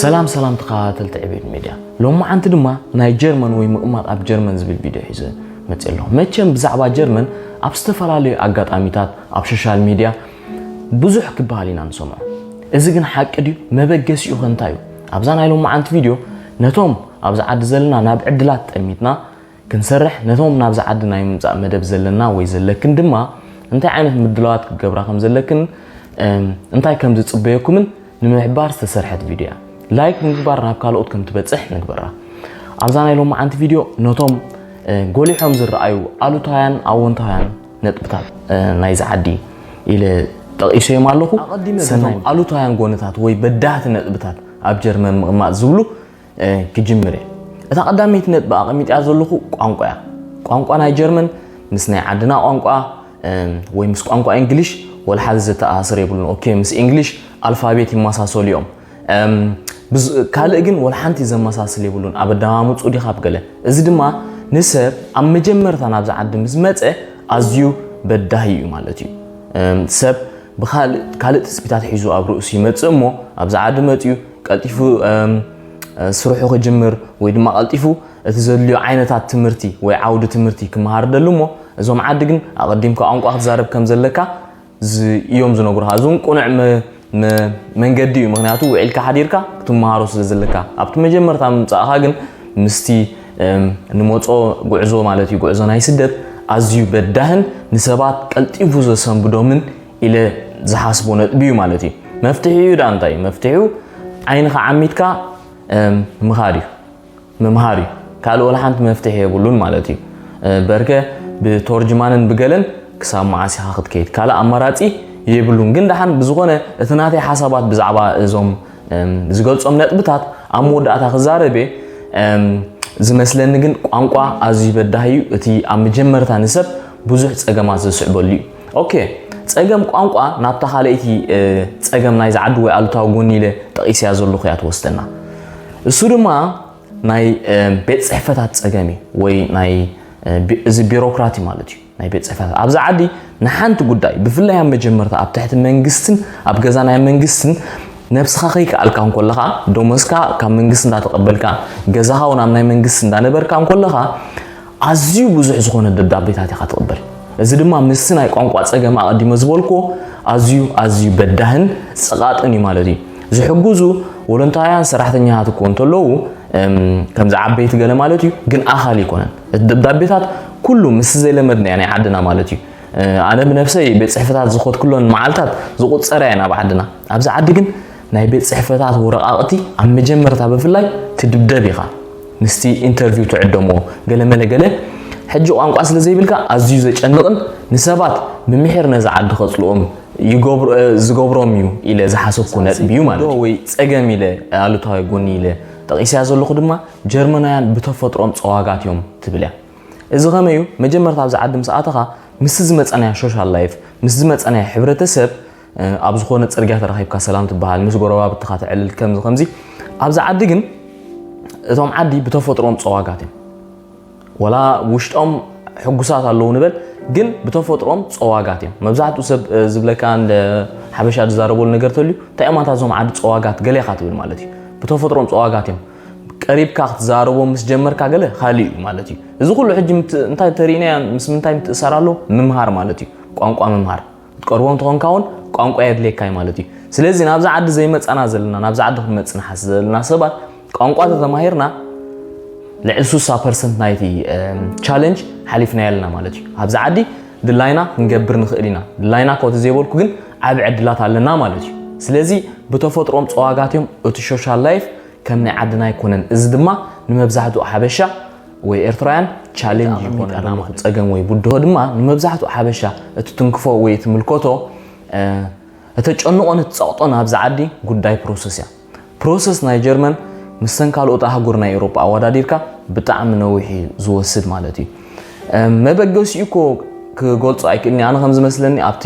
ሰላም ሰላም ተኸታተልቲ ዕቤት ሚድያ ሎማዓንቲ ድማ ናይ ጀርመን ወይ ምቕማጥ ኣብ ጀርመን ዝብል ቪድዮ ሒዘ መፅእ ኣለኹ መቸም ብዛዕባ ጀርመን ኣብ ዝተፈላለዩ ኣጋጣሚታት ኣብ ሶሻል ሚድያ ብዙሕ ክበሃል ኢና ንሰምዖ እዚ ግን ሓቂ ድዩ መበገሲኡ ከ እንታይ እዩ ኣብዛ ናይ ሎማዓንቲ ቪድዮ ነቶም ኣብዚ ዓዲ ዘለና ናብ ዕድላት ጠሚትና ክንሰርሕ ነቶም ናብዚ ዓዲ ናይ ምምጻእ መደብ ዘለና ወይ ዘለክን ድማ እንታይ ዓይነት ምድላዋት ክትገብራ ከም ዘለክን እንታይ ከም ዝጽበየኩምን ንምሕባር ዝተሰርሐት ቪድዮ እያ። ላይክ ብምግባር ናብ ካልኦት ከም ትበጽሕ ንግበራ። ኣብዛ ናይ ሎማዓንቲ ቪድዮ ነቶም ጎሊሖም ዝረኣዩ ኣሉታውያን ኣወንታውያን ነጥብታት ናይዚ ዓዲ ኢለ ጠቒሰዮም ኣለኹ። ኣቐዲመ ሰናይ ኣሉታውያን ጎንታት ወይ በዳህቲ ነጥብታት ኣብ ጀርመን ምቕማጥ ዝብሉ ክጅምር እየ። እታ ቀዳመይቲ ነጥቢ ኣቐሚጠያ ዘለኹ ቋንቋ እያ። ቋንቋ ናይ ጀርመን ምስ ናይ ዓድና ቋንቋ ወይ ምስ ቋንቋ እንግሊሽ ወላ ሓደ ዘተኣሳስር የብሉን። ኦኬ ምስ እንግሊሽ ኣልፋቤት ይመሳሰሉ እዮም። ካልእ ግን ወላ ሓንቲ ዘመሳስል የብሉን። ኣብ ኣደማምፁ ዲኻ ኣብ ገለ እዚ ድማ ንሰብ ኣብ መጀመርታ ናብዚ ዓዲ ምስ መፀ ኣዝዩ በዳሂ እዩ ማለት እዩ። ሰብ ብካልእ ትፅቢታት ሒዙ ኣብ ርእሱ ይመፅእ እሞ ኣብዚ ዓዲ መፅኡ ቀልጢፉ ስርሑ ክጅምር ወይ ድማ ቀልጢፉ እቲ ዘድልዮ ዓይነታት ትምህርቲ ወይ ዓውዲ ትምህርቲ ክመሃር ደሉ እሞ እዞም ዓዲ ግን ኣቐዲምካ ቋንቋ ክትዛረብ ከም ዘለካ እዮም ዝነግሩኻ እዚ እውን ቁኑዕ መንገዲ እዩ ምክንያቱ ውዒልካ ሓዲርካ ክትመሃሮ ስለ ዘለካ ኣብቲ መጀመርታ ምምፃእኻ ግን ምስቲ ንመፆ ጉዕዞ ማለት እዩ ጉዕዞ ናይ ስደት ኣዝዩ በዳህን ንሰባት ቀልጢፉ ዘሰንብዶምን ኢለ ዝሓስቦ ነጥቢ እዩ ማለት እዩ መፍትሒኡ ዳኣ እንታይ እዩ መፍትሒኡ ዓይንኻ ዓሚትካ ምኻድ እዩ ምምሃር እዩ ካልእ ወላ ሓንቲ መፍትሒ የብሉን ማለት እዩ በርከ ብቶርጅማንን ብገለን ክሳብ መዓስ ኢኻ ክትከይድ ካልእ ኣማራፂ የብሉን ግን ደሓን ብዝኾነ እቲ ናተይ ሓሳባት ብዛዕባ እዞም ዝገልፆም ነጥብታት ኣብ መወዳእታ ክዛረብ እየ ዝመስለኒ ግን ቋንቋ ኣዝዩ በዳህ እዩ እቲ ኣብ መጀመርታ ንሰብ ብዙሕ ፀገማት ዘስዕበሉ እዩ ኦኬ ጸገም ቋንቋ ናብታ ካልኣይቲ ጸገም ናይ ዝዓዲ ወይ ኣሉታዊ ጎኒ ኢለ ጠቒሰያ ዘለኹ እያ ትወስደና እሱ ድማ ናይ ቤት ጽሕፈታት ጸገም እዩ ወይ ናይ እዚ ቢሮክራቲ ማለት እዩ ናይ ቤት ጽሕፈታት ኣብዚ ዓዲ ንሓንቲ ጉዳይ ብፍላይ ኣብ መጀመርታ ኣብ ትሕቲ መንግስትን ኣብ ገዛ ናይ መንግስትን ነብስኻ ከይከኣልካ እንኮለኻ ደሞዝካ ካብ መንግስቲ እንዳተቐበልካ ገዛኻ እውን ኣብ ናይ መንግስቲ እንዳነበርካ እንኮለኻ ኣዝዩ ብዙሕ ዝኾነ ደብዳቤታት ኢኻ ትቕበል። እዚ ድማ ምስቲ ናይ ቋንቋ ጸገም ኣቐዲመ ዝበልኩዎ ኣዝዩ ኣዝዩ በዳህን ጸቓጥን እዩ ማለት እዩ። ዝሕግዙ ወለንታውያን ሰራሕተኛታት እኮ እንተለዉ ከምዚ ዓበይቲ ገለ ማለት እዩ፣ ግን ኣኻሊ ኣይኮነን። እቲ ደብዳቤታት ኩሉ ምስ ዘይለመድናዮ ናይ ዓድና ማለት እዩ። ኣነ ብነብሰይ ቤት ጽሕፈታት ዝኸድኩለን መዓልታት ዝቑጸራ እየን ኣብ ዓድና። ኣብዚ ዓዲ ግን ናይ ቤት ጽሕፈታት ወረቓቕቲ ኣብ መጀመርታ ብፍላይ ትድብደብ ኢኻ ምስቲ ኢንተርቪው ትዕደሞ ገለ መለ ገለ ሕጂ ቋንቋ ስለ ዘይብልካ ኣዝዩ ዘጨንቕን ንሰባት ብምሒር ነዚ ዓዲ ከጽልኦም ዝገብሮም እዩ ኢለ ዝሓሰብኩ ነጥቢ እዩ ማለት እዩ ወይ ጸገም ኢለ ኣሉታዊ ጎኒ ኢለ ጠቒሰያ ዘለኹ ድማ ጀርመናውያን ብተፈጥሮም ጸዋጋት እዮም ትብል እያ እዚ ከመይ እዩ መጀመርታ ኣብዚ ዓዲ ምስ ኣተኻ ምስቲ ዝመጸናዮ ሶሻል ላይፍ ምስ ዝመጸናዮ ሕብረተሰብ ኣብ ዝኾነ ጽርግያ ተራኺብካ ሰላም ትበሃል፣ ምስ ጎረባብትኻ ተዕልል ከምዚ ከምዚ። ኣብዚ ዓዲ ግን እቶም ዓዲ ብተፈጥሮም ጸዋጋት እዮም። ወላ ውሽጦም ሕጉሳት ኣለዉ ንበል ግን ብተፈጥሮም ጸዋጋት እዮም። መብዛሕትኡ ሰብ ዝብለካ ሓበሻ ዝዛረበሉ ነገር ተልዩ እንታይ እዮም ኣታ እዞም ዓዲ ጸዋጋት ገለ ኢኻ ትብል ማለት እዩ። ብተፈጥሮም ጸዋጋት እዮም። ቀሪብካ ክትዛረቦም ምስ ጀመርካ ገለ ካልእ እዩ ማለት እዩ። እዚ ኩሉ ሕጂ እንታይ ተርእዩና ምስ ምንታይ ምትእሳር ኣሎ ምምሃር ማለት እዩ። ቋንቋ ምምሃር ትቀርቦ እንተኾንካ ውን ቋንቋ የድልየካ እዩ ማለት እዩ። ስለዚ ናብዛ ዓዲ ዘይመጻና ዘለና ናብዛ ዓዲ ክንመጽእ ንሓስብ ዘለና ሰባት ቋንቋ ተተማሂርና ልዕሊ 60 ፐርሰንት ናይቲ ቻለንጅ ሓሊፍናዮ ኣለና ማለት እዩ። ኣብዚ ዓዲ ድላይና ክንገብር ንኽእል ኢና። ድላይና ኮቲ ዘይበልኩ ግን ዓቢ ዕድላት ኣለና ማለት እዩ። ስለዚ ብተፈጥሮም ጸዋጋት እዮም እቲ ሶሻል ላይፍ ከም ናይ ዓድና ኣይኮነን እዚ ድማ ንመብዛሕትኡ ሓበሻ ወይ ኤርትራውያን ቻሌንጅ ይኾነና ማለት ጸገም ወይ ብድሆ ድማ ንመብዛሕትኡ ሓበሻ እቲ ትንክፎ ወይ እቲ ምልከቶ እተጨንቖን እትጸቕጦን ኣብዚ ዓዲ ጉዳይ ፕሮሰስ እያ ፕሮሰስ ናይ ጀርመን ምስተን ካልኦት ኣህጉር ናይ ኤውሮጳ ኣወዳዲርካ ብጣዕሚ ነዊሕ እዩ ዝወስድ ማለት እዩ መበገሲኡ እኮ ክገልጾ ኣይክእልኒ ኣነ ከም ዝመስለኒ ኣብቲ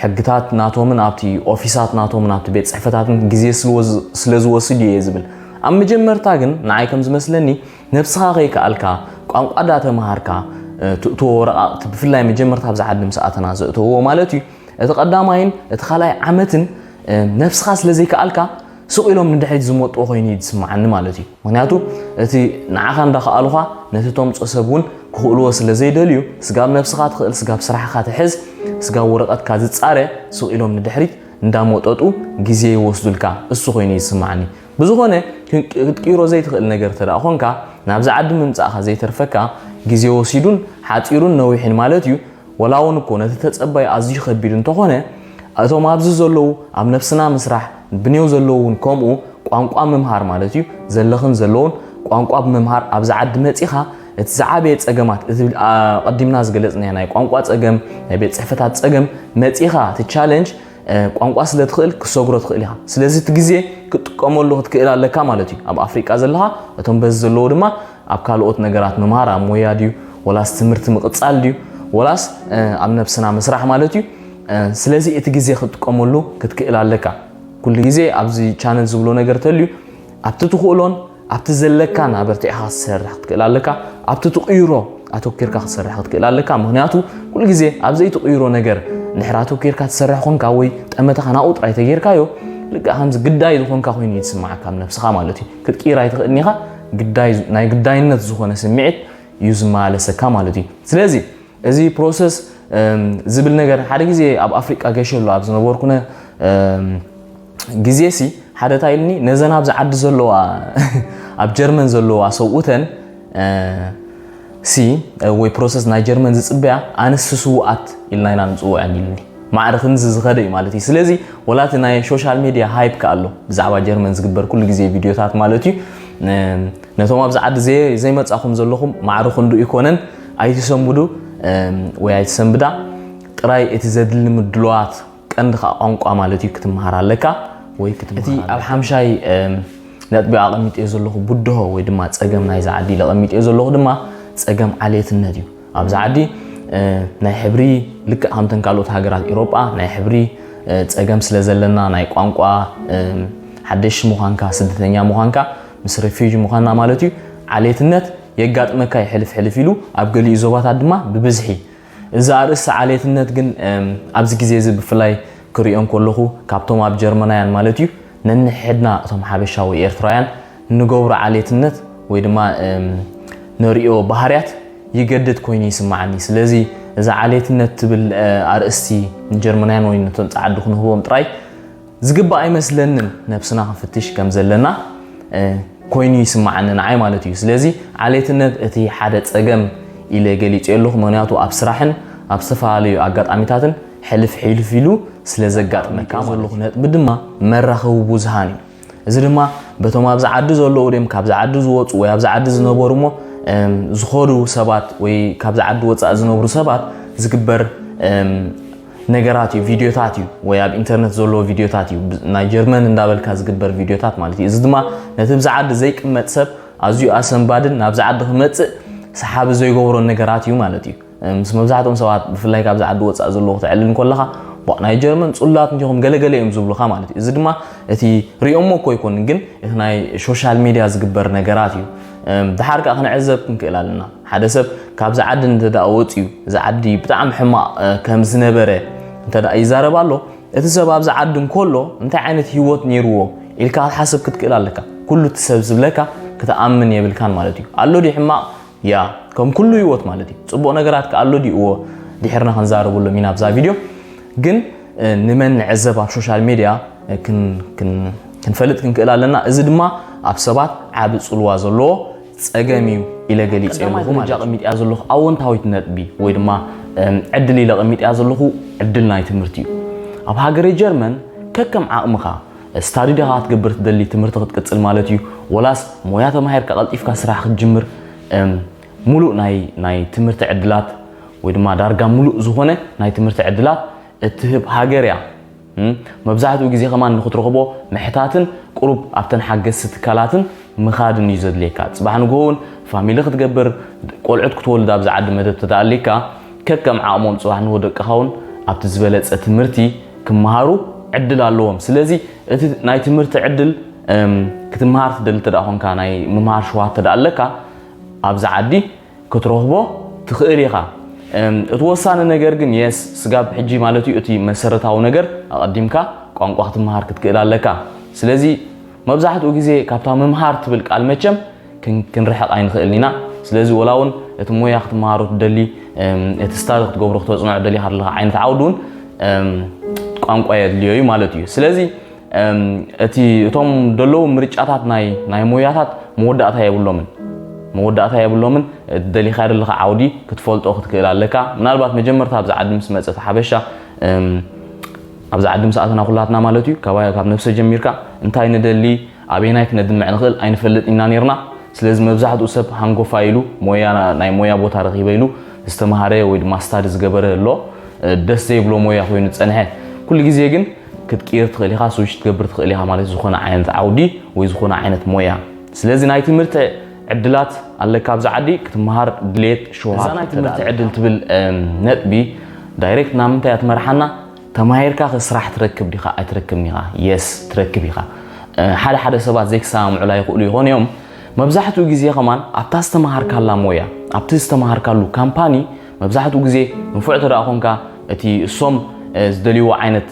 ሕግታት ናቶምን ኣብቲ ኦፊሳት ናቶምን ኣብቲ ቤት ጽሕፈታትን ግዜ ስለ ዝወስድ እየ ዝብል ኣብ መጀመርታ ግን ንዓይ ከም ዝመስለኒ ነብስኻ ከይከኣልካ ቋንቋ ዳተመሃርካ ትእትዎ ወረቓቕቲ ብፍላይ መጀመርታ ኣብዚ ዓዲ ምስ ኣተና ዘእተውዎ ማለት እዩ እቲ ቀዳማይን እቲ ካልኣይ ዓመትን ነብስኻ ስለ ዘይከኣልካ ስቕ ኢሎም ንድሕሪት ዝመጥዎ ኮይኑ እዩ ዝስምዓኒ ማለት እዩ ምክንያቱ እቲ ንዓኻ እንዳኸኣሉኻ ነቲ ተምፆ ሰብ እውን ክኽእልዎ ስለ ዘይደልዩ ስጋብ ነብስኻ ትኽእል ስጋብ ስራሕኻ ትሕዝ ስጋብ ወረቐትካ ዝፃረ ስቕ ኢሎም ንድሕሪት እንዳመጠጡ ግዜ ይወስዱልካ እሱ ኮይኑ እዩ ዝስምዓኒ ብዝኾነ ክትቅይሮ ዘይትኽእል ነገር እንተደኣ ኾንካ፣ ናብዚ ዓዲ ምምጻእካ ዘይተርፈካ ግዜ ወሲዱን ሓጺሩን ነዊሕን ማለት እዩ፣ ወላውን እኮ ነቲ ተጸባዩ ኣዝዩ ከቢድ እንተኾነ፣ እቶም ኣብዚ ዘለዉ ኣብ ነብስና ምስራሕ፣ ብኔው ዘለዉ እውን ከምኡ፣ ቋንቋ ምምሃር ማለት እዩ፣ ዘለኽን ዘለዉን ቋንቋ ብምምሃር ኣብዚ ዓዲ መጺኻ እቲ ዝዓበየ ጸገማት እቲ ኣቐዲምና ዝገለጽናዮ ናይ ቋንቋ ጸገም፣ ናይ ቤት ጽሕፈታት ጸገም መጺኻ እቲ ቻለንጅ ቋንቋ ስለ ትኽእል ክሰግሮ ትኽእል ኢኻ ስለዚ እቲ ግዜ ክትጥቀመሉ ክትክእል ኣለካ ማለት እዩ ኣብ ኣፍሪቃ ዘለኻ እቶም በዚ ዘለዎ ድማ ኣብ ካልኦት ነገራት ምምሃር ኣብ ሞያ ድዩ ወላስ ትምህርቲ ምቕጻል ድዩ ወላስ ኣብ ነብስና ምስራሕ ማለት እዩ ስለዚ እቲ ግዜ ክትጥቀመሉ ክትክእል ኣለካ ኩሉ ግዜ ኣብዚ ቻነል ዝብሎ ነገር ተልዩ ኣብቲ ትኽእሎን ኣብቲ ዘለካን ኣበርቲዕኻ ክትሰርሕ ክትክእል ኣለካ ኣብቲ ትቕይሮ ኣተኪርካ ክትሰርሕ ክትክእል ኣለካ ምክንያቱ ኩሉ ግዜ ኣብ ዘይትቕይሮ ነገር ድሕሪ ኣተኪርካ ትሰርሕ ኮንካ ወይ ጠመተኻ ናብኡ ጥራይ ተጌርካዮ ልክዕ ከምዚ ግዳይ ዝኾንካ ኮይኑ እዩ ዝስማዓካ ኣብ ነብስኻ ማለት እዩ ክትቅይር ኣይትኽእልን ኢኻ ግዳይ ናይ ግዳይነት ዝኾነ ስምዒት እዩ ዝመላለሰካ ማለት እዩ ስለዚ እዚ ፕሮሰስ ዝብል ነገር ሓደ ግዜ ኣብ ኣፍሪቃ ገሸሉ ኣብ ዝነበርኩነ ግዜ ሲ ሓደ ታይ ኢልኒ ነዘን ኣብዚ ዓዲ ዘለዋ ኣብ ጀርመን ዘለዋ ሰብኡተን ሲ ወይ ፕሮሰስ ናይ ጀርመን ዝጽበያ ኣንስቲ ስውኣት ኢልና ኢና ንጽውዐን ኢልኒ ማዕረ ክንዚ ዝኸደ እዩ ማለት እዩ ስለዚ ወላ እቲ ናይ ሶሻል ሜድያ ሃይፕ ከ ኣሎ ብዛዕባ ጀርመን ዝግበር ኩሉ ግዜ ቪድዮታት ማለት እዩ ነቶም ኣብዚ ዓዲ ዘይመጻኹም ዘለኹም ማዕረ ክንዱ ይኮነን ኣይትሰምዱ ወይ ኣይትሰንብዳ ጥራይ እቲ ዘድሊ ምድለዋት ቀንዲ ከኣ ቋንቋ ማለት እዩ ክትመሃር ኣለካ ወይ ክትመሃር እቲ ኣብ ሓምሻይ ነጥቢ ኣቐሚጠዮ ዘለኹ ብድሆ ወይ ድማ ጸገም ናይዚ ዓዲ ኢለ ኣቐሚጠዮ ዘለኹ ድማ ጸገም ዓሌትነት እዩ ኣብዚ ዓዲ ናይ ሕብሪ ልክዕ ከምተን ካልኦት ሃገራት ኤውሮጳ ናይ ሕብሪ ጸገም ስለ ዘለና ናይ ቋንቋ ሓደሽ ምዃንካ ስደተኛ ምዃንካ ምስ ሬፊጂ ምዃንና ማለት እዩ ዓሌትነት የጋጥመካ ይሕልፍ ሕልፍ ኢሉ ኣብ ገሊኡ ዞባታት ድማ ብብዝሒ እዚ ኣርእስቲ ዓሌትነት ግን ኣብዚ ግዜ እዚ ብፍላይ ክሪኦ እንከለኹ ካብቶም ኣብ ጀርመናውያን ማለት እዩ ነንሕድና እቶም ሓበሻ ወይ ኤርትራውያን ንገብሮ ዓሌትነት ወይ ድማ ነሪኦ ባህርያት ይገድድ ኮይኑ ይስማዓኒ ስለዚ እዚ ዓሌትነት ትብል ኣርእስቲ ንጀርመናውያን ወይ ነቶም ጻዓዱ ክንህቦም ጥራይ ዝግባእ ኣይመስለንን ነብስና ክንፍትሽ ከም ዘለና ኮይኑ ይስማዓኒ ንዓይ ማለት እዩ ስለዚ ዓሌትነት እቲ ሓደ ጸገም ኢለ ገሊጸዮ ኣለኹ ምክንያቱ ኣብ ስራሕን ኣብ ዝተፈላለዩ ኣጋጣሚታትን ሕልፍ ሕልፍ ኢሉ ስለ ዘጋጥመካ ዘለኹ ነጥቢ ድማ መራኸቢ ብዙሃን እዩ እዚ ድማ በቶም ኣብዚ ዓዲ ዘለዉ ድም ካብዚ ዓዲ ዝወፁ ወይ ኣብዚ ዓዲ ዝነበሩ እሞ ዝኾዱ ሰባት ወይ ካብዚ ዓዲ ወፃእ ዝነብሩ ሰባት ዝግበር ነገራት እዩ ቪድዮታት እዩ ወይ ኣብ ኢንተርነት ዘለዎ ቪድዮታት እዩ ናይ ጀርመን እንዳበልካ ዝግበር ቪድዮታት ማለት እዩ እዚ ድማ ነቲ ብዛ ዓዲ ዘይቅመጥ ሰብ ኣዝዩ ኣሰንባድን ናብዚ ዓዲ ክመፅእ ሰሓቢ ዘይገብሮ ነገራት እዩ ማለት እዩ ምስ መብዛሕትኦም ሰባት ብፍላይ ካብዚ ዓዲ ወፃእ ዘለዎ ክትዕልል እንከለካ ናይ ጀርመን ፅሉላት እንዲኹም ገለገለ እዮም ዝብሉካ ማለት እዩ እዚ ድማ እቲ ሪኦሞ እኮ ኣይኮንን ግን እቲ ናይ ሶሻል ሚድያ ዝግበር ነገራት እዩ ደሓር ከኣ ክንዕዘብ ክንክእል ኣለና። ሓደ ሰብ ካብዚ ዓዲ እንተደኣ ወጺኡ እዚ ዓዲ ብጣዕሚ ሕማቕ ከም ዝነበረ እንተደኣ ይዛረብ ኣሎ እቲ ሰብ ኣብዚ ዓዲ እንከሎ እንታይ ዓይነት ህይወት ነይርዎ ኢልካ ክትሓስብ ክትክእል ኣለካ። ኩሉ እቲ ሰብ ዝብለካ ክትኣምን የብልካን ማለት እዩ። ኣሎ ድዩ ሕማቕ? ያ ከም ኩሉ ህይወት ማለት እዩ። ጽቡቕ ነገራት ከኣ ኣሎ ድዩ? እዎ ድሒርና ክንዛረበሎም ኢና ኣብዛ ቪድዮ። ግን ንመን ንዕዘብ ኣብ ሾሻል ሜድያ ክንፈልጥ ክንክእል ኣለና። እዚ ድማ ኣብ ሰባት ዓቢ ጽልዋ ዘለዎ ጸገም እዩ ኢለ ገሊጸ ኣለኹ ማለት እዩ። ቀሚጥያ ዘለኹ ኣወንታዊት ነጥቢ ወይ ድማ ዕድል ኢለ ቀሚጥያ ዘለኹ ዕድል ናይ ትምህርቲ እዩ። ኣብ ሃገረ ጀርመን ከከም ዓቕምኻ ስታዲ ዲኻ ክትገብር ትደሊ ትምህርቲ ክትቅጽል ማለት እዩ ወላስ ሞያ ተማሂርካ ቀልጢፍካ ስራሕ ክትጅምር ሙሉእ ናይ ናይ ትምህርቲ ዕድላት ወይ ድማ ዳርጋ ሙሉእ ዝኾነ ናይ ትምህርቲ ዕድላት እትህብ ሃገር እያ። መብዛሕትኡ ግዜ ከማን ንክትረኽቦ ምሕታትን ቁሩብ ኣብተን ሓገዝቲ ትካላትን ምኻድን እዩ ዘድልየካ። ጽባሕ ንግሆ ውን ፋሚሊ ክትገብር ቆልዑት ክትወልድ ኣብዚ ዓዲ መደብ ተተኣልይካ ከከም ዓቕሞም ጽባሕ ንግሆ ደቅኻ ውን ኣብቲ ዝበለጸ ትምህርቲ ክመሃሩ ዕድል ኣለዎም። ስለዚ እቲ ናይ ትምህርቲ ዕድል ክትመሃር ትደሊ እንተደኣ ኮንካ ናይ ምምሃር ሸውሃት እንተደኣ ኣለካ ኣብዚ ዓዲ ክትረኽቦ ትኽእል ኢኻ። እቲ ወሳኒ ነገር ግን የስ ስጋብ ሕጂ ማለት እዩ እቲ መሰረታዊ ነገር ኣቐዲምካ ቋንቋ ክትመሃር ክትክእል ኣለካ። ስለዚ መብዛሕትኡ ግዜ ካብታ ምምሃር ትብል ቃል መቸም ክንርሕቕ ኣይንኽእልን ኢና። ስለዚ ወላ እውን እቲ ሞያ ክትመሃሮ ትደሊ እቲ ስታድ ክትገብሮ ክተጽንዖ ደሊኻ ዘለኻ ዓይነት ዓውዲ እውን ቋንቋ የድልዮ እዩ ማለት እዩ። ስለዚ እቲ እቶም ደለዉ ምርጫታት ናይ ናይ ሞያታት መወዳእታ የብሎምን መወዳእታ የብሎምን ደሊኻ ደለኻ ዓውዲ ክትፈልጦ ክትክእል ኣለካ ምናልባት መጀመርታ ኣብዚ ዓዲ ምስ መፀት ሓበሻ ኣብዚ ዓዲ ምስ ኣተና ኩላትና ማለት እዩ ካብ ነብሰ ጀሚርካ እንታይ ንደሊ ኣበየናይ ክነድምዕ ንኽእል ኣይንፈልጥ ኢና ነርና ስለዚ መብዛሕትኡ ሰብ ሃንጎፋ ኢሉ ሞያ ናይ ሞያ ቦታ ረኺበ ኢሉ ዝተምሃረ ወይ ድማ ስታዲ ዝገበረ ኣሎ ደስ ዘይብሎ ሞያ ኮይኑ ዝፀንሐ ኩሉ ግዜ ግን ክትቅይር ትኽእል ኢኻ፣ ስዊች ክትገብር ትኽእል ኢኻ ማለት ዝኾነ ዓይነት ዓውዲ ወይ ዝኾነ ዓይነት ሞያ። ስለዚ ናይ ትምህርቲ ዕድላት ኣለካ ኣብዚ ዓዲ ክትመሃር ድሌት ሸውሃት እዛ ናይ ትምህርቲ ዕድል ትብል ነጥቢ ዳይሬክት ናብ ምንታይ እያ ትመርሓና ተማሂርካ ከ ስራሕ ትረክብ ዲኻ ኣይትረክብን ኢኻ የስ ትረክብ ኢኻ ሓደ ሓደ ሰባት ዘይክሰማምዑላ ይኽእሉ ይኾኑ እዮም መብዛሕትኡ ግዜ ከማን ኣብታ ዝተመሃርካላ ሞያ ኣብቲ ዝተመሃርካሉ ካምፓኒ መብዛሕትኡ ግዜ ንፉዕ እንተደኣ ኾንካ እቲ እሶም ዝደልይዎ ዓይነት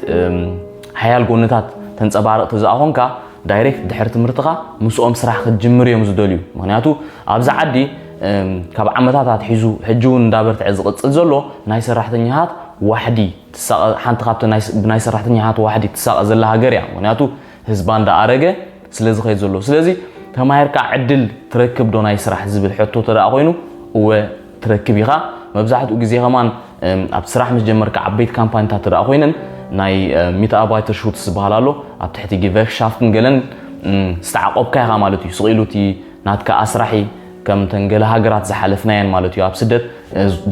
ሓያል ጎንታት ተንጸባርቕ ተዘኣ ኾንካ ዳይሬክት ድሕሪ ትምህርትኻ ምስኦም ስራሕ ክትጅምር እዮም ዝደልዩ ምክንያቱ ኣብዚ ዓዲ ካብ ዓመታት ኣትሒዙ ሕጂ እውን እንዳበርትዐ ዝቕጽል ዘሎ ናይ ሰራሕተኛታት ዋሕዲ ትሳቐ ሓንቲ ካብቲ ብናይ ሰራሕተኛታት ዋሕዲ ትሳቐ ዘላ ሃገር እያ ምክንያቱ ህዝባ እንዳኣረገ ስለ ዝኸይድ ዘሎ ስለዚ ተማሂርካ ዕድል ትረክብ ዶ ናይ ስራሕ ዝብል ሕቶ ተደኣ ኮይኑ እወ ትረክብ ኢኻ መብዛሕትኡ ግዜ ከማን ኣብ ስራሕ ምስ ጀመርካ ዓበይቲ ካምፓኒታት ትረኣ ኮይነን ናይ ሚትኣርባይተር ሹትስ ዝበሃል ኣሎ ኣብ ትሕቲ ጊቨርክሻፍትን ገለን ዝተዓቆብካ ኢኻ ማለት እዩ ስቂሉ እቲ ናትካ ኣስራሒ ከም ተን ገለ ሃገራት ዝሓለፍናየን ማለት እዩ ኣብ ስደት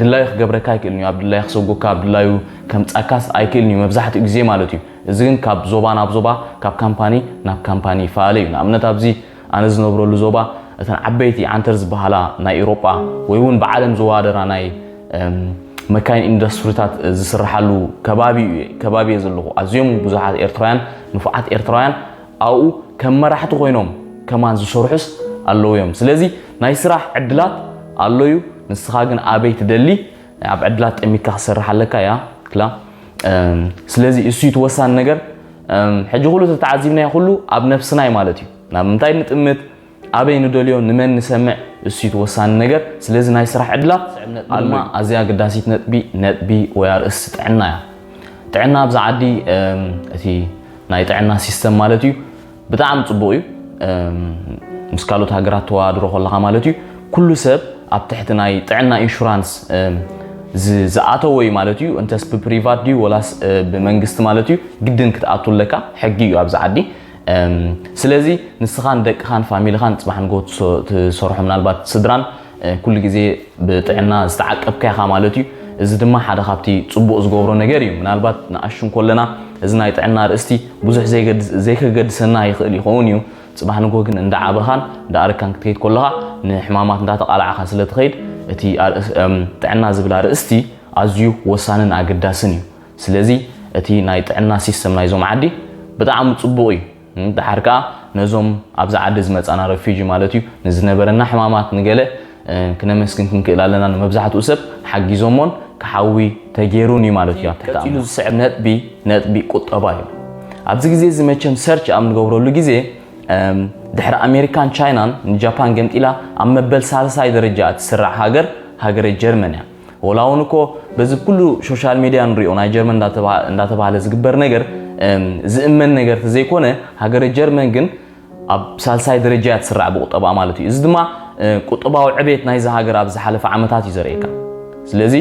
ድላዩ ክገብረካ ኣይክእልን እዩ ኣብ ድላዩ ክሰጎካ ኣብ ድላዩ ከምጻካስ ኣይክእልን እዩ መብዛሕትኡ ግዜ ማለት እዩ እዚ ግን ካብ ዞባ ናብ ዞባ ካብ ካምፓኒ ናብ ካምፓኒ ይፈላለ እዩ ንኣብነት ኣብዚ ኣነ ዝነብረሉ ዞባ እተን ዓበይቲ ዓንተር ዝበሃላ ናይ ኢሮጳ ወይ እውን ብዓለም ዝዋደራ ናይ መካይን ኢንዱስትሪታት ዝስርሓሉ ከባቢ ከባቢ እየ ዘለኹ ኣዝዮም ብዙሓት ኤርትራውያን ንፉዓት ኤርትራውያን ኣብኡ ከም መራሕቲ ኮይኖም ከማን ዝሰርሑስ ኣለዉ እዮም ስለዚ ናይ ስራሕ ዕድላት ኣሎ እዩ ንስኻ ግን ኣበይ ትደሊ ኣብ ዕድላት ጠሚትካ ክሰርሕ ኣለካ እያ ክላ ስለዚ እሱ እቲ ወሳኒ ነገር ሕጂ ኩሉ እቲ ተዓዚብናዮ ኩሉ ኣብ ነብስናይ ማለት እዩ ናብ ምንታይ ንጥምት ኣበይ ንደልዮ ንመን ንሰምዕ እሱ እቲ ወሳኒ ነገር ስለዚ ናይ ስራሕ ዕድላት ድማ ኣዝያ ኣገዳሲት ነጥቢ ነጥቢ ወይ ኣርእስቲ ጥዕና እያ ጥዕና ኣብዛ ዓዲ እቲ ናይ ጥዕና ሲስተም ማለት እዩ ብጣዕሚ ፅቡቕ እዩ ምስ ካልኦት ሃገራት ተወዳድሮ ከለኻ ማለት እዩ ኩሉ ሰብ ኣብ ትሕቲ ናይ ጥዕና ኢንሹራንስ ዝኣተወ እዩ ማለት እዩ እንተስ ብፕሪቫት ድዩ ወላስ ብመንግስቲ ማለት እዩ ግድን ክትኣቱ ኣለካ ሕጊ እዩ ኣብዚ ዓዲ ስለዚ ንስኻን ደቅኻን ፋሚልኻን ፅባሕ ንጎ ትሰርሖ ምናልባት ስድራን ኩሉ ግዜ ብጥዕና ዝተዓቀብካ ኢኻ ማለት እዩ እዚ ድማ ሓደ ካብቲ ፅቡቕ ዝገብሮ ነገር እዩ ምናልባት ንኣሹ እንኮለና እዚ ናይ ጥዕና ርእስቲ ብዙሕ ዘይከገድሰና ይኽእል ይኸውን እዩ ጽባሕ ንግሆ ግን እንዳ ዓበኻን እንዳ ኣረግካን ክትከይድ ኮለኻ ንሕማማት እንዳ ተቓላዕኻ ስለ ትኸይድ እቲ ጥዕና ዝብል ኣርእስቲ ኣዝዩ ወሳንን ኣገዳስን እዩ። ስለዚ እቲ ናይ ጥዕና ሲስተም ናይዞም ዓዲ ብጣዕሚ ጽቡቕ እዩ። ደሓር ከኣ ነዞም ኣብዚ ዓዲ ዝመጻና ረፊጂ ማለት እዩ ንዝነበረና ሕማማት ንገለ ክነመስግን ክንክእል ኣለና ንመብዛሕትኡ ሰብ ሓጊዞሞን ክሓዊ ተጌሩን እዩ ማለት እዩ። ቀፂሉ ዝስዕብ ነጥቢ ነጥቢ ቁጠባ እዩ። ኣብዚ ግዜ እዚ መቸም ሰርች ኣብ ንገብረሉ ግዜ ድሕሪ ኣሜሪካን ቻይናን ንጃፓን ገምጢላ ኣብ መበል ሳልሳይ ደረጃ እትስራዕ ሃገር ሃገረ ጀርመን እያ። ወላ እውን እኮ በዚ ኩሉ ሶሻል ሚዲያ ንሪኦ ናይ ጀርመን እንዳተባሃለ ዝግበር ነገር ዝእመን ነገር ተዘይኮነ ሃገረ ጀርመን ግን ኣብ ሳልሳይ ደረጃ እያ ትስራዕ ብቁጠባኣ ማለት እዩ። እዚ ድማ ቁጠባዊ ዕቤት ናይዛ ሃገር ኣብ ዝሓለፈ ዓመታት እዩ ዘርእየካ። ስለዚ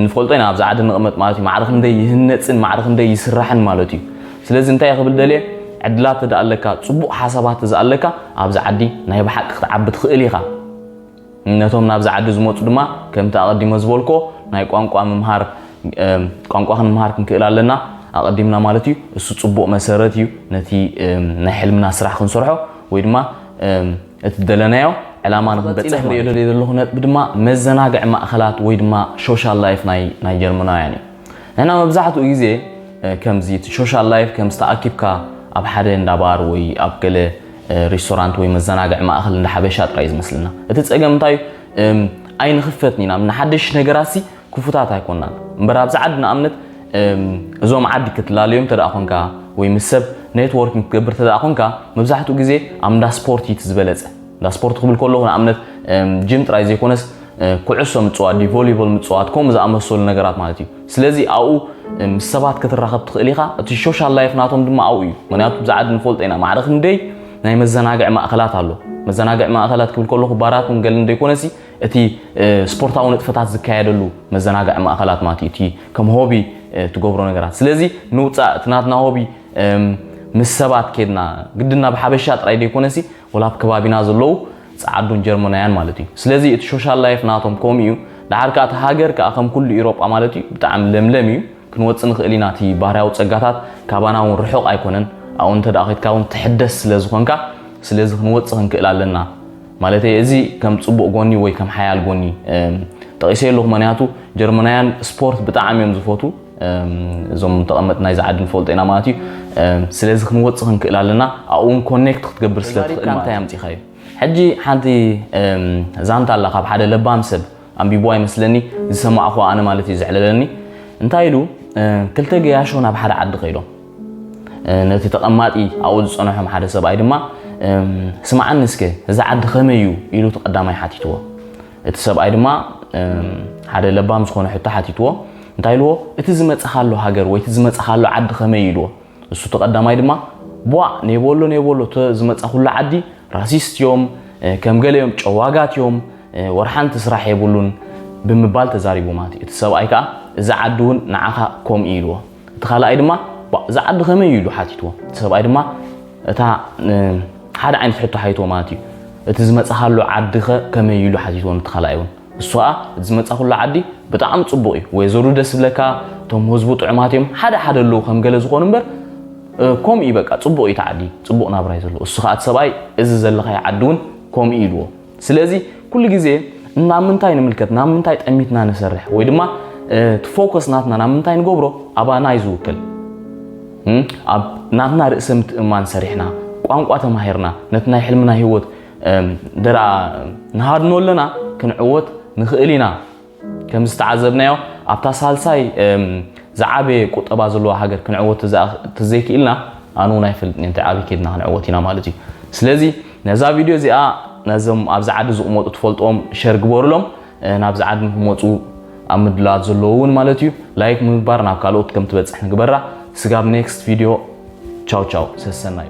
ንፈልጦ ኢና ኣብዚ ዓዲ ንቕመጥ ማለት እዩ ማዕረ ክንደይ ይህነፅን ማዕረ ክንደይ ይስራሕን ማለት እዩ። ስለዚ እንታይ እየ ክብል ደልየ ዕድላት ተደኣ ኣለካ፣ ፅቡቕ ሓሳባት ተዘኣ ኣለካ ኣብዚ ዓዲ ናይ ብሓቂ ክትዓቢ ትኽእል ኢኻ። ነቶም ናብዚ ዓዲ ዝመጹ ድማ ከምቲ ኣቐዲመ ዝበልክዎ ናይ ቋንቋ ምምሃር ቋንቋ ክንምሃር ክንክእል ኣለና ኣቐዲምና ማለት እዩ እሱ ጽቡቕ መሰረት እዩ ነቲ ናይ ሕልምና ስራሕ ክንሰርሖ ወይ ድማ እቲ ደለናዮ ዕላማ ንክንበጽሕ ማለት እዩ። ዘለኹ ነጥቢ ድማ መዘናግዒ ማእከላት ወይ ድማ ሾሻል ላይፍ ናይ ጀርመናውያን እዩ። ንሕና መብዛሕትኡ ግዜ ከምዚ እቲ ሶሻል ላይፍ ከምዚ ተኣኪብካ ኣብ ሓደ እንዳ ባር ወይ ኣብ ገለ ሬስቶራንት ወይ መዘናግዒ ማእኸል እንዳ ሓበሻ ጥራይ ዝመስለና። እቲ ጸገም እንታይ እዩ ኣይንኽፈትን ኢና ንሓደሽቲ ነገራትሲ ክፉታት ኣይኮናን። እምበር ኣብዚ ዓዲ ንኣብነት እዞም ዓዲ ክትላለዮም እንተደኣ ኮንካ ወይ ምስ ሰብ ኔትዎርኪንግ ክትገብር እንተደኣ ኮንካ መብዛሕትኡ ግዜ ኣብ እንዳ ስፖርት እዩ እቲ ዝበለጸ። እንዳ ስፖርት ክብል ከለኹ ንኣብነት ጂም ጥራይ ዘይኮነስ ኩዕሶ ምጽዋት ድዩ ቮሊቦል ምጽዋት ከምኡ ዝኣመሰሉ ነገራት ማለት እዩ ስለዚ ኣብኡ ምስ ሰባት ክትራኸብ ትኽእል ኢኻ እቲ ሶሻል ላይፍ ናቶም ድማ ኣብኡ እዩ ምክንያቱ ብዛዕድ ንፈልጦ ኢና ማዕረ ክንደይ ናይ መዘናግዒ ማእኸላት ኣሎ መዘናግዒ ማእኸላት ክብል ከለኹ ባራት ውን ገልን ዘይኮነሲ እቲ ስፖርታዊ ንጥፈታት ዝካየደሉ መዘናግዒ ማእኸላት ማለት እዩ እቲ ከም ሆቢ ትገብሮ ነገራት ስለዚ ንውፃእ እቲ ናትና ሆቢ ምስ ሰባት ኬድና ግድና ብሓበሻ ጥራይ ዘይኮነሲ ወላ ኣብ ከባቢና ዘለዉ ጸዓዱን ጀርመናውያን ማለት እዩ ስለዚ እቲ ሾሻል ላይፍ ናቶም ከምኡ እዩ ደሓር ከኣ እቲ ሃገር ከኣ ከም ኩሉ ኢሮጳ ማለት እዩ ብጣዕሚ ለምለም እዩ ክንወጽእ ንኽእል ኢና እቲ ባህርያዊ ጸጋታት ካባና እውን ርሑቕ ኣይኮነን ኣብኡ እንተ ከድካ እውን ትሕደስ ስለ ዝኾንካ ስለዚ ክንወጽእ ክንክእል ኣለና ማለተይ እዚ ከም ጽቡቕ ጎኒ ወይ ከም ሓያል ጎኒ ጠቒሰ ኣለኹ ምክንያቱ ጀርመናውያን ስፖርት ብጣዕሚ እዮም ዝፈቱ እዞም ተቐመጥ ናይዚ ዓዲ ንፈልጦ ኢና ማለት እዩ ስለዚ ክንወፅእ ክንክእል ኣለና ኣብኡ እውን ኮኔክት ክትገብር ስለትኽእል እንታይ ኣምፂኻ እዩ ሕጂ ሓንቲ ዛንታ ኣላ ካብ ሓደ ለባም ሰብ ኣንቢቦዋ ይመስለኒ ዝሰማዕኹዋ ኣነ ማለት እዩ ዘዕለለኒ እንታይ ኢሉ ክልተ ገያሾ ናብ ሓደ ዓዲ ከይዶም ነቲ ተቐማጢ ኣብኡ ዝፀንሖም ሓደ ሰብኣይ ድማ ስማዓኒ እስከ እዚ ዓዲ ከመይ እዩ ኢሉ እቲ ቀዳማይ ሓቲትዎ እቲ ሰብኣይ ድማ ሓደ ለባም ዝኾነ ሕቶ ሓቲትዎ እንታይ ኢልዎ እቲ ዝመጽኻሉ ሃገር ወይ እቲ ዝመጽኻሉ ዓዲ ከመይ ኢልዎ እሱ እቲ ቀዳማይ ድማ ቧዕ ኔቦሎ ኔቦሎ እቲ ዝመጻኹሉ ዓዲ ራሲስት እዮም ከም ገለ እዮም ጨዋጋት እዮም ወርሓንቲ ስራሕ የብሉን ብምባል ተዛሪቡ ማለት እዩ እቲ ሰብኣይ ከዓ እዚ ዓዲ እውን ንዓኻ ከምኡ ኢልዎ እቲ ካልኣይ ድማ ቧእ እዚ ዓዲ ከመይ እዩ ኢሉ ሓቲትዎ። እቲ ሰብኣይ ድማ እታ ሓደ ዓይነት ሕቶ ሓይትዎ ማለት እዩ። እቲ ዝመጻኻሉ ዓዲ ከ ከመይ እዩ ኢሉ ሓቲትዎ ነቲ ካልኣይ እውን። እሱ ከዓ እቲ ዝመጻኹሉ ዓዲ ብጣዕሚ ጽቡቕ እዩ፣ ወይዘሩ ደስ ዝብለካ፣ እቶም ህዝቡ ጥዑማት እዮም፣ ሓደ ሓደ ኣለዉ ከም ገለ ዝኾኑ እምበር ከምኡ እዩ በቃ ጽቡቕ እዩ እቲ ዓዲ፣ ጽቡቕ ናብራ እዩ ዘለዎ። እሱ ከዓ እቲ ሰብኣይ እዚ ዘለኻዮ ዓዲ እውን ከምኡ እዩ ኢልዎ። ስለዚ ኩሉ ግዜ ናብ ምንታይ ንምልከት ናብ ምንታይ ጠሚትና ንሰርሕ ወይ ድማ ፎከስ ናትና ናብ ምንታይ ንገብሮ ኣባና እዩ ዝውክል ኣብ ናትና ርእሰ ምትእማን ሰሪሕና ቋንቋ ተማሂርና ነቲ ናይ ሕልምና ህይወት ደኣ ንሃድኖ ኣለና ክንዕወት ንኽእል ኢና ከም ዝተዓዘብናዮ ኣብታ ሳልሳይ ዝዓበየ ቁጠባ ዘለዋ ሃገር ክንዕወት ተዘይክኢልና ኣነ እውን ኣይፈልጥን እንታይ ኣበይ ከድና ክንዕወት ኢና ማለት እዩ ስለዚ ነዛ ቪድዮ እዚኣ ነዞም ኣብዚ ዓዲ ዝቕመጡ ትፈልጥዎም ሸር ግበሩሎም ናብዚ ዓዲ ንክመፁ ኣብ ምድላት ዘለዎ እውን ማለት እዩ ላይክ ምምግባር ናብ ካልኦት ከም ትበፅሕ ንግበራ ስጋብ ኔክስት ቪድዮ ቻው ቻው ሰሰናዩ